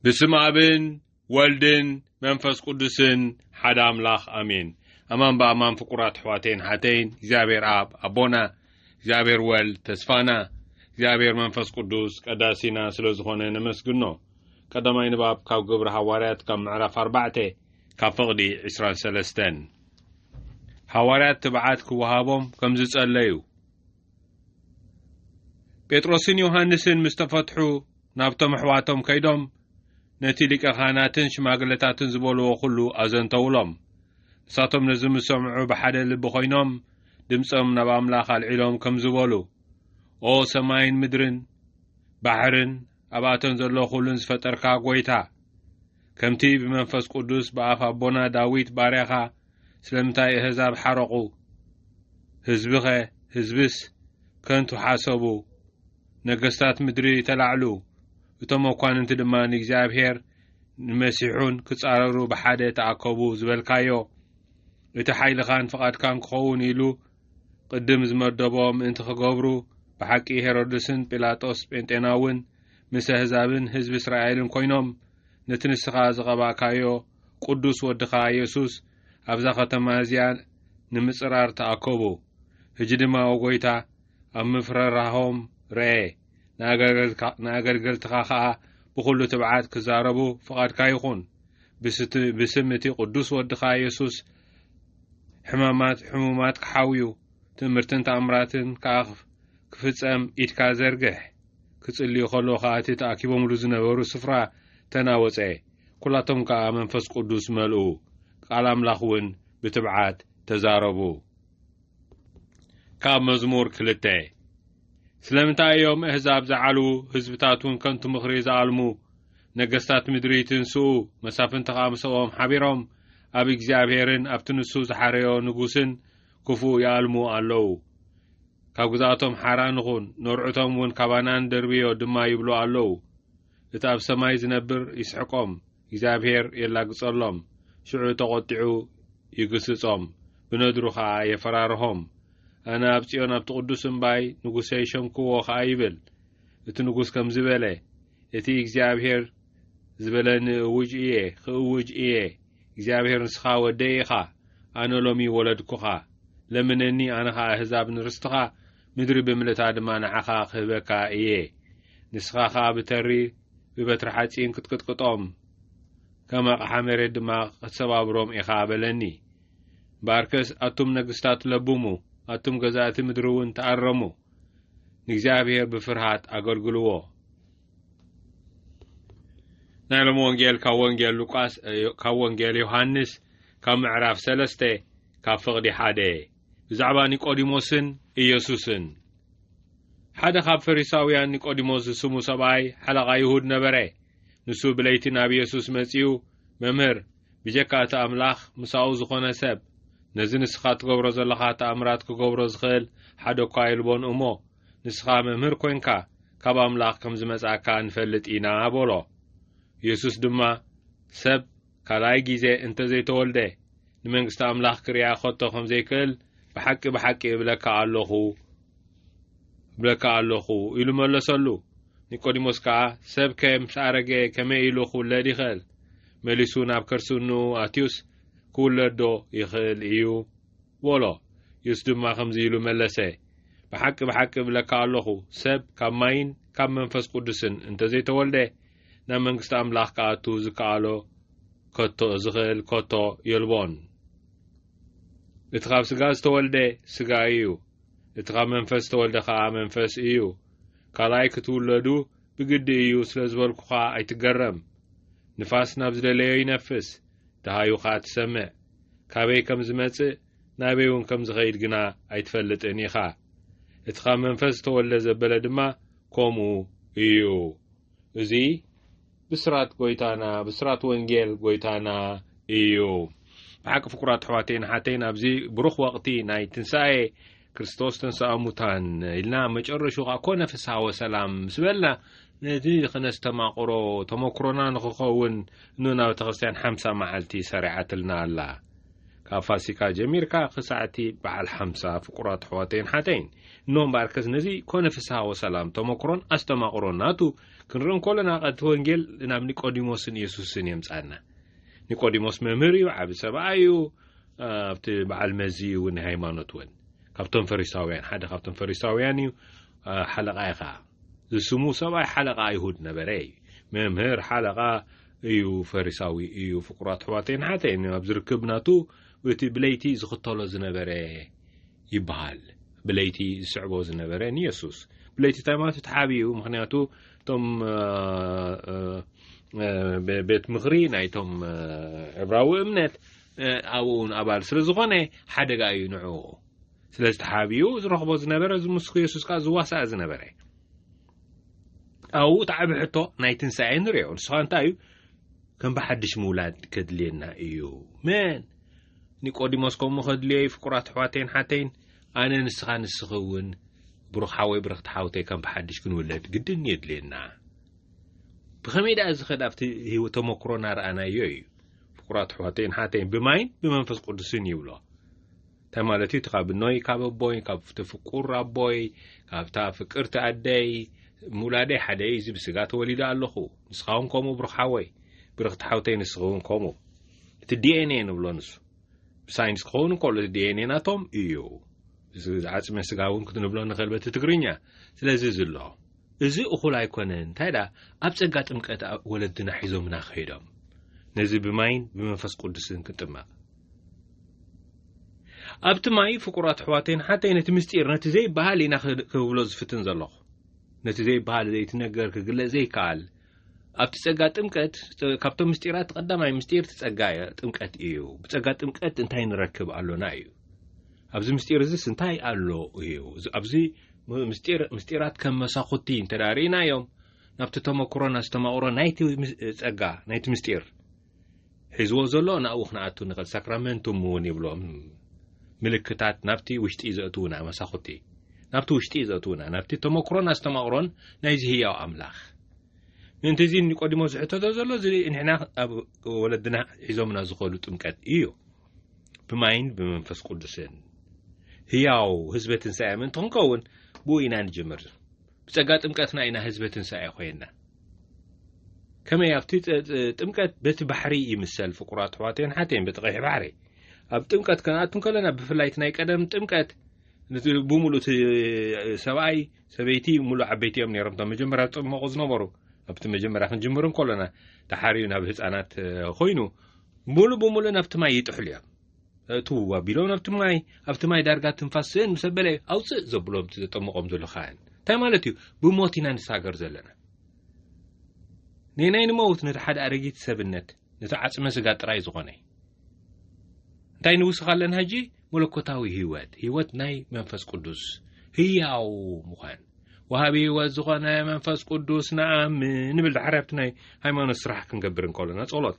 ብስም ኣብን ወልድን መንፈስ ቅዱስን ሓደ ኣምላኽ ኣሜን። ኣማን ብኣማን ፍቁራት ኣሕዋተይን ሓተይን እግዚኣብሔር ኣብ ኣቦና እግዚኣብሔር ወልድ ተስፋና እግዚኣብሔር መንፈስ ቅዱስ ቀዳሲና ስለ ዝኾነ ነመስግኖ። ቀዳማይ ንባብ ካብ ግብሪ ሃዋርያት ካብ ምዕራፍ ኣርባዕተ ካብ ፍቕዲ ዕስራን ሰለስተን ሃዋርያት ትብዓት ክወሃቦም ከም ዝጸለዩ ጴጥሮስን ዮሃንስን ምስ ተፈትሑ ናብቶም ኣሕዋቶም ከይዶም ነቲ ሊቀ ካህናትን ሽማግለታትን ዝበልዎ ዅሉ ኣዘንተውሎም ንሳቶም ነዚ ምስ ሰምዑ ብሓደ ልቢ ዀይኖም ድምፆም ናብ ኣምላኽ ኣልዒሎም ከም ዝበሉ ኦ ሰማይን ምድርን ባሕርን ኣብኣተን ዘሎ ዅሉን ዝፈጠርካ ጐይታ ከምቲ ብመንፈስ ቅዱስ ብኣፍ ኣቦና ዳዊት ባርያኻ ስለምንታይ እህዛብ ሓረቑ ህዝብኸ ህዝብስ ከንቱ ሓሰቡ ነገስታት ምድሪ ተላዕሉ እቶም መኳንንቲ ድማ ንእግዚኣብሔር ንመሲሑን ክጻረሩ ብሓደ ተኣከቡ ዝበልካዮ እቲ ሓይልኻን ፍቓድካን ክኸውን ኢሉ ቅድም ዝመደቦ ምእንቲ ክገብሩ ብሓቂ ሄሮድስን ጲላጦስ ጴንጤናውን ምስ ኣህዛብን ህዝቢ እስራኤልን ኰይኖም ነቲ ንስኻ ዝቐባእካዮ ቕዱስ ወድኻ የሱስ ኣብዛ ኸተማ እዚኣ ንምጽራር ተኣከቡ። ህጂ ድማ ኦ ጐይታ፣ ኣብ ምፍርራሆም ርኣ፣ ንኣገልገልትኻ ኸኣ ብዅሉ ትብዓት ክዛረቡ ፍቓድካ ይኹን። ብስም እቲ ቕዱስ ወድኻ የሱስ ሕማማት ሕሙማት ክሓውዩ፣ ትእምርትን ተኣምራትን ከኣ ክፍጸም ኢድካ ዘርግሕ። ክጽልዩ ከለዉ ከኣ እቲ ተኣኪቦምሉ ዝነበሩ ስፍራ ተናወጸ፣ ኵላቶም ከኣ መንፈስ ቅዱስ መልኡ፣ ቃል ኣምላኽ እውን ብትብዓት ተዛረቡ። ካብ መዝሙር ክልተ ስለምንታይ እዮም እህዛብ ዝዓልዉ፣ ህዝብታት እውን ከንቱ ምኽሪ ዝኣልሙ፣ ነገስታት ምድሪ ይትንስኡ፣ መሳፍንቲ ከኣ ምሰኦም ሓቢሮም ኣብ እግዚኣብሔርን ኣብቲ ንሱ ዝሓረዮ ንጉስን ክፉእ ይኣልሙ ኣለዉ። ካብ ግዝኣቶም ሓራ ንኹን፣ ነርዑቶም እውን ካባና ንደርብዮ ድማ ይብሉ ኣለዉ። እቲ ኣብ ሰማይ ዝነብር ይስሕቆም፣ እግዚኣብሄር የላግጸሎም፣ ሽዑ ተቖጢዑ ይግስጾም፣ ብነድሩ ኸኣ የፈራርሆም። ኣነ ኣብ ጽዮን ኣብቲ ቅዱስ እምባይ ንጉሰይ ሸምክዎ ኸኣ ይብል እቲ ንጉስ ከምዚ በለ፣ እቲ እግዚኣብሄር ዝበለኒ እውጅ እየ ኽእውጅ እየ እግዚኣብሄር ንስኻ ወደይ ኢኻ ኣነ ሎሚ ወለድኩኻ ለምነኒ ኣነ ኸኣ ኣህዛብ ንርስትኻ ምድሪ ብምልእታ ድማ ንዓኻ ኽህበካ እየ ንስኻ ኸኣ ብተሪ ብበትሪ ሓጺን ክትቅጥቅጦም ከም ኣቕሓ መሬት ድማ ኽትሰባብሮም ኢኻ በለኒ ባርከስ ኣቱም ነግስታት ለብሙ ኣቱም ገዛእቲ ምድሪ እውን ተኣረሙ ንእግዚኣብሔር ብፍርሃት ኣገልግልዎ። ናይ ሎም ወንጌል ካብ ወንጌል ሉቃስ ካብ ወንጌል ዮሃንስ ካብ ምዕራፍ ሰለስተ ካብ ፍቕዲ ሓደ ብዛዕባ ኒቆዲሞስን ኢየሱስን ሓደ ካብ ፈሪሳውያን ኒቆዲሞስ ዝስሙ ሰብኣይ ሓለቓ ይሁድ ነበረ። ንሱ ብለይቲ ናብ ኢየሱስ መጺኡ መምህር ብጀካ እቲ ኣምላኽ፣ ምሳኡ ዝኾነ ሰብ፣ ነዚ ንስኻ እትገብሮ ዘሎኻ ተኣምራት ኪገብሮ ዚኽእል ሓደ እኳ የልቦን እሞ፣ ንስኻ መምህር ኰንካ፣ ካብ ኣምላኽ ከም ዝመጻእካ ንፈልጥ ኢና፣ በሎ። የሱስ ድማ፣ ሰብ ካልኣይ ጊዜ እንተ ዘይተወልደ፣ ንመንግስቲ ኣምላኽ ኪርኣ ኸቶ ኸም ዘይክእል፣ ብሓቂ፣ ብሓቂ እብለካ ኣሎኹ፣ እብለካ ኣሎኹ ኢሉ መለሰሉ። ኒቆዲሞስ ከኣ ሰብከ ምስ ኣረገ ከመይ ኢሉ ክውለድ ይኽእል? መሊሱ ናብ ከርሲ እንኡ ኣትዩስ ክውለድዶ ይኽእል እዩ? በሎ። የሱስ ድማ ከምዚ ኢሉ መለሰ፣ ብሓቂ ብሓቂ እብለካ ኣሎኹ፣ ሰብ ካብ ማይን ካብ መንፈስ ቅዱስን እንተ ዘይተወልደ፣ ናብ መንግስቲ ኣምላኽ ክኣቱ ዝከኣሎ ከቶ ዝኽእል ከቶ የልቦን። እቲ ካብ ስጋ ዝተወልደ ስጋ እዩ፣ እቲ ካብ መንፈስ ዝተወልደ ኸኣ መንፈስ እዩ። ካልኣይ ክትውለዱ ብግዲ እዩ ስለ ዝበልኩ ኸኣ ኣይትገረም። ንፋስ ናብ ዝደለዮ ይነፍስ፣ ደሃዩ ኸኣ ትሰምዕ፣ ካበይ ከም ዝመጽእ ናበይውን ከም ዝኸይድ ግና ኣይትፈልጥን ኢኻ። እቲ ካብ መንፈስ ዝተወልደ ዘበለ ድማ ከምኡ እዩ። እዚ ብስራት ጎይታና ብስራት ወንጌል ጎይታና እዩ ብሓቂ ፍቁራት ኣሕዋተይን ሓተይን ኣብዚ ብሩኽ ወቕቲ ናይ ትንሳኤ ክርስቶስ ተንስኣ ሙታን ኢልና መጨረሹ ከዓ ኮነ ፍስሃ ወሰላም ምስ በልና ነዚ ኸነስተማቕሮ ተመክሮና ንኽኸውን ን ናብ ቤተ ክርስትያን ሓምሳ መዓልቲ ሰሪዓትልና ኣላ ካብ ፋሲካ ጀሚርካ ክሳዕቲ በዓል ሓምሳ ፍቁራት ኣሕዋተይን ሓተይን እኖ እምበኣርከስ ነዚ ኮነ ፍስሃ ወሰላም ተመክሮን ኣስተማቕሮን ናቱ ክንርኢ እንከሎና ቐ እቲ ወንጌል ናብ ኒቆዲሞስን የሱስን የምጻና ኒቆዲሞስ መምህር እዩ ዓብ ሰብኣ እዩ ኣብቲ በዓል መዚ እዩ እውን ናይ ሃይማኖት እውን ካብቶም ፈሪሳውያን ሓደ ካብቶም ፈሪሳውያን እዩ ሓለቓ ዩ ኸዓ ዝስሙ ሰብኣይ ሓለቓ ኣይሁድ ነበረ እዩ መምህር ሓለቓ እዩ ፈሪሳዊ እዩ ፍቁራት ኣሕዋተይን ሓተይን ኣብ ዝርክብ ናቱ እቲ ብለይቲ ዝኽተሎ ዝነበረ ይበሃል ብለይቲ ዝስዕቦ ዝነበረ ንየሱስ ብለይቲ እንታይ ማለት ተሓቢ እዩ ምክንያቱ እቶም ቤት ምክሪ ናይቶም ዕብራዊ እምነት ኣብኡ ውን ኣባል ስለ ዝኾነ ሓደጋ እዩ ንዕኡ ስለዚ ተሓቢኡ ዝረኽቦ ዝነበረ ዝምስኩ የሱስ ከዓ ዝዋሳእ ዝነበረ ኣብኡ እቲ ዓብ ሕቶ ናይ ትንሳኤ ንርዮ ንስኻ እንታይ እዩ ከም ብሓድሽ ምውላድ ከድልየና እዩ መን ኒቆዲሞስ ከምኡ ከድልዮ እዩ ፍቁራት ኣሕዋተይን ሓተይን ኣነ ንስኻ ንስኺ እውን ብሩኽ ሓወይ ብርኽቲ ሓውተይ ከም ብሓድሽ ክንውለድ ግድን የድልየና ብኸመይ ደኣ እዚ ኸድ ኣብቲ ህይወት ተመክሮና ረኣናዮ እዩ ፍቁራት ኣሕዋተይን ሓተይን ብማይን ብመንፈስ ቅዱስን ይብሎ እንታይ ማለት እዩ እቲ ካብ እኖይ ካብ ኣቦይ ካብቲ ፍቁር ኣቦይ ካብታ ፍቅርቲ ኣደይ ምውላደይ ሓደ እዩ እዚ ብስጋ ተወሊደ ኣለኹ ንስኻ እውን ከምኡ ብሩኽ ሓወይ ብርኽቲ ሓውተይ ንስኺ እውን ከምኡ እቲ ዲኤንኤ ንብሎ ንሱ ብሳይንስ ክኸውን እንከሎ እቲ ዲኤንኤ ናቶም እዩ እዚ ዓፅመ ስጋ እውን ክትንብሎ ንኽእል በቲ ትግርኛ ስለዚ እዚ ኣሎ እዚ እኹል ኣይኮነን እንታይ ደኣ ኣብ ጸጋ ጥምቀት ወለድና ሒዞምና ከይዶም ነዚ ብማይን ብመንፈስ ቅዱስን ክንጥመቕ ኣብቲ ማይ ፍቁራት ኣሕዋተይን ኣሓተይ ነቲ ምስጢር ነቲ ዘይበሃል ኢና ክብሎ ዝፍትን ዘለኹ ነቲ ዘይበሃል ዘይትነገር ክግለጽ ዘይከኣል ኣብቲ ጸጋ ጥምቀት ካብቶም ምስጢራት ቀዳማይ ምስጢር እቲ ጸጋ ጥምቀት እዩ ብጸጋ ጥምቀት እንታይ ንረክብ ኣሎና እዩ ኣብዚ ምስጢር እዚስ እንታይ ኣሎ እዩ ኣብዚ ምስጢር ምስጢራት ከም መሳኹቲ እንተዳርእናዮም ናብቲ ተመክሮን ኣስተማቕሮ ናይቲ ጸጋ ናይቲ ምስጢር ሒዝዎ ዘሎ ናብኡ ክንኣቱ ንኽእል ሳክራመንቱም እውን ይብሎም ምልክታት ናብቲ ውሽጢ ዘእትውና መሳኹቲ ናብቲ ውሽጢ ዘእትውና ናብቲ ተመክሮን ኣስተማቕሮን ናይዚ ህያው ኣምላኽ ምእንቲ እዚ ኒቆዲሞስ ዝሕተቶ ዘሎ እዚ ንሕና ኣብ ወለድና ሒዞምና ዝኸሉ ጥምቀት እዩ ብማይን ብመንፈስ ቅዱስን ህያው ህዝበ ትንሳኤ ምእንቲ ክንከውን ብኡ ኢና ንጅምር ብጸጋ ጥምቀትና ኢና ህዝበ ትንሳኤ ኮይና። ከመይ ኣብቲ ጥምቀት በቲ ባሕሪ ይምሰል ፍቁራት ኣሕዋተይን ሓተይን በቲ ቀይሕ ባሕሪ ኣብ ጥምቀት ከነኣቱ እንከለና ብፍላይ እቲ ናይ ቀደም ጥምቀት ብምሉእ እቲ ሰብኣይ ሰበይቲ ምሉእ ዓበይቲ እዮም ነይሮም እቶም መጀመርያ ዝጠመቑ ዝነበሩ ኣብቲ መጀመርያ ክንጅምር እንከሎና ተሓርዩ ናብ ህፃናት ኮይኑ ምሉእ ብምሉእ ናብቲ ማይ ይጥሕሉ እዮም እእትውዎ ኣቢሎም ኣብቲ ማይ ኣብቲ ማይ ዳርጋ ትንፋስ ስእን ምስ ኣበለ እዩ ኣውፅእ ዘብሎም እቲ ዘጠምቖም ዘሎ ካህን እንታይ ማለት እዩ ብሞት ኢና ንሳገር ዘለና ነናይ ንመውት ነቲ ሓደ ኣረጊት ሰብነት ነቲ ዓፅመ ስጋ ጥራይ ዝኾነ እንታይ ንውስኽ ኣለና ሕጂ መለኮታዊ ህይወት ህይወት ናይ መንፈስ ቅዱስ ህያው ምዃን ወሃቢ ህይወት ዝኾነ መንፈስ ቅዱስ ንኣምን ንብል ዳሓር ኣብቲ ናይ ሃይማኖት ስራሕ ክንገብር እንከሎና ጸሎት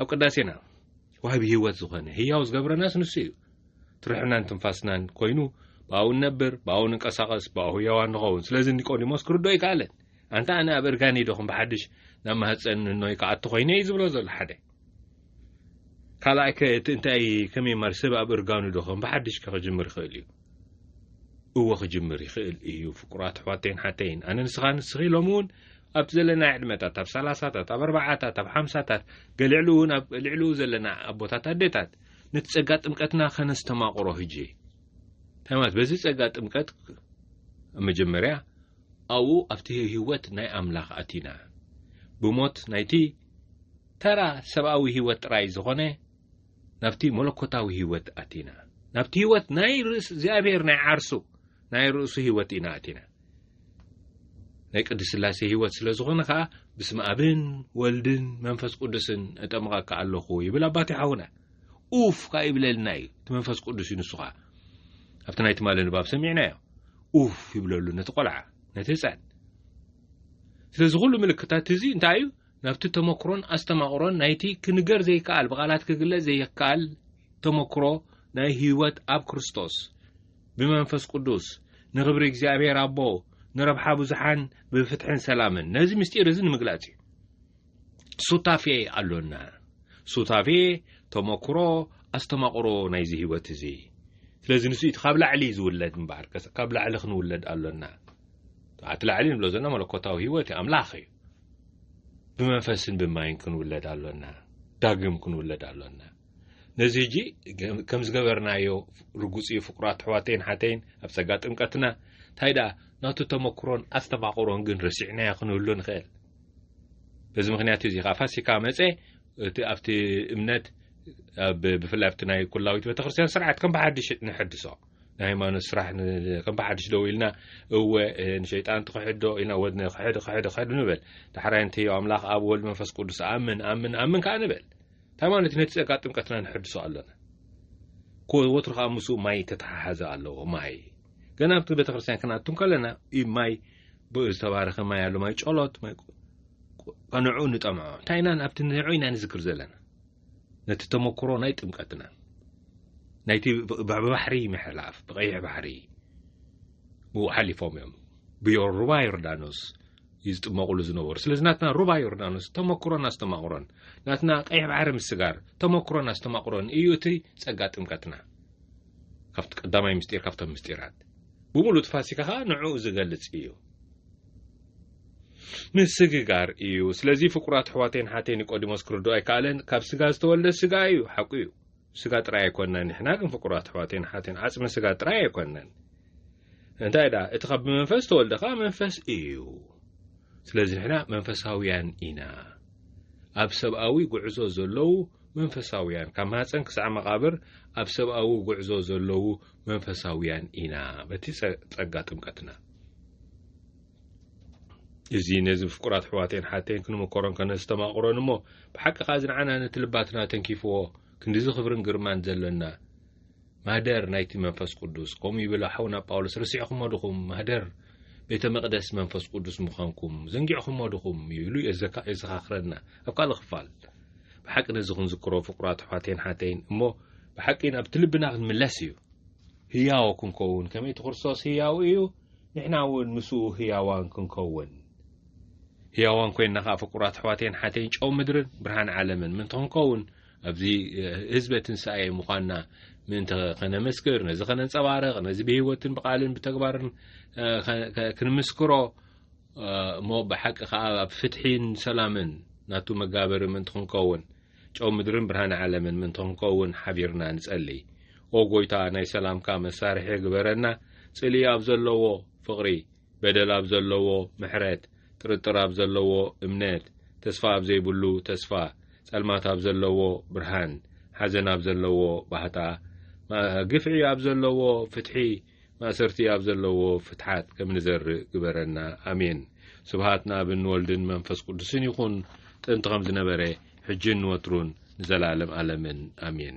ኣብ ቅዳሴና ወሃቢ ህይወት ዝኾነ፣ ህያው ዝገብረናስ ንሱ እዩ። እቲ ርሕናን ትንፋስናን ኮይኑ ብኣኡ ንነብር፣ ብኣኡ ንንቀሳቐስ፣ ብኣኡ ህያዋን ንኸውን። ስለዚ ኒቆዲሞስ ክርድኦ ኣይከኣለን። ኣንታ ኣነ ኣብ እርጋነይ ዶ ከም ብሓድሽ ናብ ማህጸን እኖይ ክኣቱ ኮይነ እዩ ዝብሎ ዘሎ ሓደ። ካልኣይከ እቲ እንታይ ከመይ ማለት ሰብ ኣብ እርጋኑ ዶ ከም ብሓድሽከ ክጅምር ይኽእል እዩ? እወ ክጅምር ይኽእል እዩ ፍቁራት ኣሕዋተይን ሓተይን ኣነ ንስኻ ንስኺ ሎሚ እውን ኣብ ዘለና ዕድመታት ኣብ ሰላሳታት ኣብ ኣርባዓታት ኣብ ሓምሳታት ገሊዕሉ እውን ኣብ ልዕልኡ ዘለና ኣቦታት ኣዴታት ነቲ ጸጋ ጥምቀትና ከነስተማቕሮ ህጂ እንታይ ማለት በዚ ጸጋ ጥምቀት ኣብ መጀመርያ ኣብኡ ኣብቲ ህይወት ናይ ኣምላኽ ኣቲና ብሞት ናይቲ ተራ ሰብኣዊ ህይወት ጥራይ ዝኾነ ናብቲ መለኮታዊ ህይወት ኣቲና። ናብቲ ህይወት ናይ ርእስ እግዚኣብሔር ናይ ዓርሱ ናይ ርእሱ ህይወት ኢና ኣቲና። ናይ ቅድስ ስላሴ ህይወት ስለ ዝኾነ ከኣ ብስመ ኣብን ወልድን መንፈስ ቅዱስን እጠምቐካ ኣለኹ ይብል ኣባቴ ሓውና ኡፍ ከኣ ይብለልና እዩ እቲ መንፈስ ቅዱስ እዩ ንሱ ከኣ ኣብቲ ናይ ትማሊ ንባብ ሰሚዕናዮ ኡፍ ይብለሉ ነቲ ቆልዓ ነቲ ህፃን ስለዚ ኩሉ ምልክታት እዚ እንታይ እዩ ናብቲ ተመክሮን ኣስተማቕሮን ናይቲ ክንገር ዘይከኣል ብቓላት ክግለጽ ዘይከኣል ተመክሮ ናይ ህይወት ኣብ ክርስቶስ ብመንፈስ ቅዱስ ንኽብሪ እግዚኣብሔር ኣቦ ንረብሓ ብዙሓን ብፍትሕን ሰላምን ነዚ ምስጢር እዚ ንምግላጽ እዩ ሱታፌ ኣሎና ሱታፌ ተመክሮ ኣስተማቕሮ ናይዚ ህይወት እዚ ስለዚ ንሱ እቲ ካብ ላዕሊ ዝውለድ እምበኣር ካብ ላዕሊ ክንውለድ ኣሎና እቲ ላዕሊ ንብሎ ዘለና መለኮታዊ ህይወት ኣምላኽ እዩ ብመንፈስን ብማይን ክንውለድ ኣሎና ዳግም ክንውለድ ኣሎና ነዚ እጂ ከም ዝገበርናዮ ርጉፅ እዩ ፍቁራት ኣሕዋተይን ሓተይን ኣብ ፀጋ ጥምቀትና እንታይ ደኣ ናቱ ተመክሮን ኣስተማቕሮን ግን ረሲዕናዮ ክንህሉ ንኽእል በዚ ምክንያት እዚ ከዓ ፋሲካ መፀ እቲ ኣብቲ እምነት ብፍላይ ኣብቲ ናይ ኩላዊት ቤተክርስትያን ስርዓት ከም ብሓድሽ ንሕድሶ ናይ ሃይማኖት ስራሕ ከም ብሓድሽ ደው ኢልና እወ ንሸይጣን ትኽሕዶ ኢልና ወ ክሕድ ክሕድ ክሕድ ንበል ዳሕራይ እንተዮ ኣምላኽ ኣብ ወልድ መንፈስ ቅዱስ ኣምን ኣምን ኣምን ከዓ ንበል እንታይ ማለት ነቲ ጸጋ ጥምቀትና ንሕድሶ ኣሎና ወትሩ ከዓ ምስኡ ማይ ተተሓሓዘ ኣለዎ ማይ ገና ኣብቲ ቤተ ክርስትያን ክናቱ ከለና ማይ ዝተባረኸ ማይ ኣሎ ማይ ጨሎት ማይ ንዕኡ ንጠምዖ እንታይ ኢና ኣብቲ ንዕኡ ኢና ንዝክር ዘለና ነቲ ተመክሮ ናይ ጥምቀትና ናይቲ ብባሕሪ ምሕላፍ ብቀይሕ ባሕሪ ብኡ ሓሊፎም እዮም ብዮ ሩባ ዮርዳኖስ እዩ ዝጥመቕሉ ዝነበሩ ስለዚ ናትና ሩባ ዮርዳኖስ ተመክሮን ኣስተማቕሮን ናትና ቀይሕ ባሕሪ ምስጋር ተመክሮን ኣስተማቕሮን እዩ እቲ ጸጋ ጥምቀትና ካብቲ ቀዳማይ ምስጢር ካብቶም ምስጢራት ብምሉእ ፋሲካ ከዓ ንዕኡ ዝገልጽ እዩ ምስግጋር እዩ ስለዚ ፍቁራት ኣሕዋተይን ሓተይ ኒቆዲሞስ ክርድኦ ኣይከኣለን ካብ ስጋ ዝተወልደ ስጋ እዩ ሓቁ እዩ ስጋ ጥራይ ኣይኮንናን ንሕና ግን ፍቁራት ኣሕዋተይን ሓተይን ዓጽሚ ስጋ ጥራይ ኣይኮንናን እንታይ ደኣ እቲ ካብ ብመንፈስ ተወልደ ከኣ መንፈስ እዩ ስለዚ ንሕና መንፈሳውያን ኢና ኣብ ሰብኣዊ ጉዕዞ ዘለዉ መንፈሳውያን ካብ ማህፀን ክሳዕ መቓብር ኣብ ሰብኣዊ ጉዕዞ ዘለዉ መንፈሳውያን ኢና በቲ ጸጋ ጥምቀትና እዚ ነዚ ፍቁራት ኣሕዋተይን ሓተይን ክንምከሮን ከነስተማቕሮን እሞ ብሓቂ ከኣ እዚ ንዓና ነቲ ልባትና ተንኪፍዎ ክንዲዚ ክብርን ግርማን ዘለና ማህደር ናይቲ መንፈስ ቅዱስ ከምኡ ይብል ሓውና ጳውሎስ ርስዕኹሞ ድኹም ማህደር ቤተ መቕደስ መንፈስ ቅዱስ ምዃንኩም ዘንጊዕኹሞ ድኹም ይብሉ የዘኻኽረና ኣብ ካልእ ክፋል ብሓቂ ነዚ ክንዝክሮ ፍቁራት ኣሕዋተይን ሓተይን እሞ ብሓቂ ናብቲ ልብና ክንምለስ እዩ ህያው ክንከውን ከመይ እቲ ክርስቶስ ህያው እዩ ንሕና እውን ምስኡ ህያዋን ክንከውን ህያዋን ኮይንና ከዓ ፍቁራት ኣሕዋተይን ሓተይን ጨው ምድርን ብርሃን ዓለምን ምእንቲ ክንከውን ኣብዚ ህዝበ ትንሳኤ ምዃንና ምእንቲ ከነመስክር ነዚ ከነንፀባርቕ ነዚ ብህይወትን ብቃልን ብተግባርን ክንምስክሮ እሞ ብሓቂ ከዓ ኣብ ፍትሒን ሰላምን ናቱ መጋበሪ ምእንቲ ክንከውን ጨው ምድርን ብርሃን ዓለምን ምእንቲ ክንከውን ሓቢርና ንጸሊ። ኦ ጎይታ ናይ ሰላምካ መሳርሒ ግበረና ጽልኢ ኣብ ዘለዎ ፍቕሪ በደል ኣብ ዘለዎ ምሕረት ጥርጥር ኣብ ዘለዎ እምነት ተስፋ ኣብ ዘይብሉ ተስፋ ጸልማት ኣብ ዘለዎ ብርሃን ሓዘን ኣብ ዘለዎ ባህታ ግፍዒ ኣብ ዘለዎ ፍትሒ ማእሰርቲ ኣብ ዘለዎ ፍትሓት ከም ንዘርእ ግበረና ኣሜን ስብሃት ናብን ንወልድን መንፈስ ቅዱስን ይኹን ጥንቲ ከም ዝነበረ ሕጅን ንወትሩን ንዘላለም ኣለምን ኣሜን።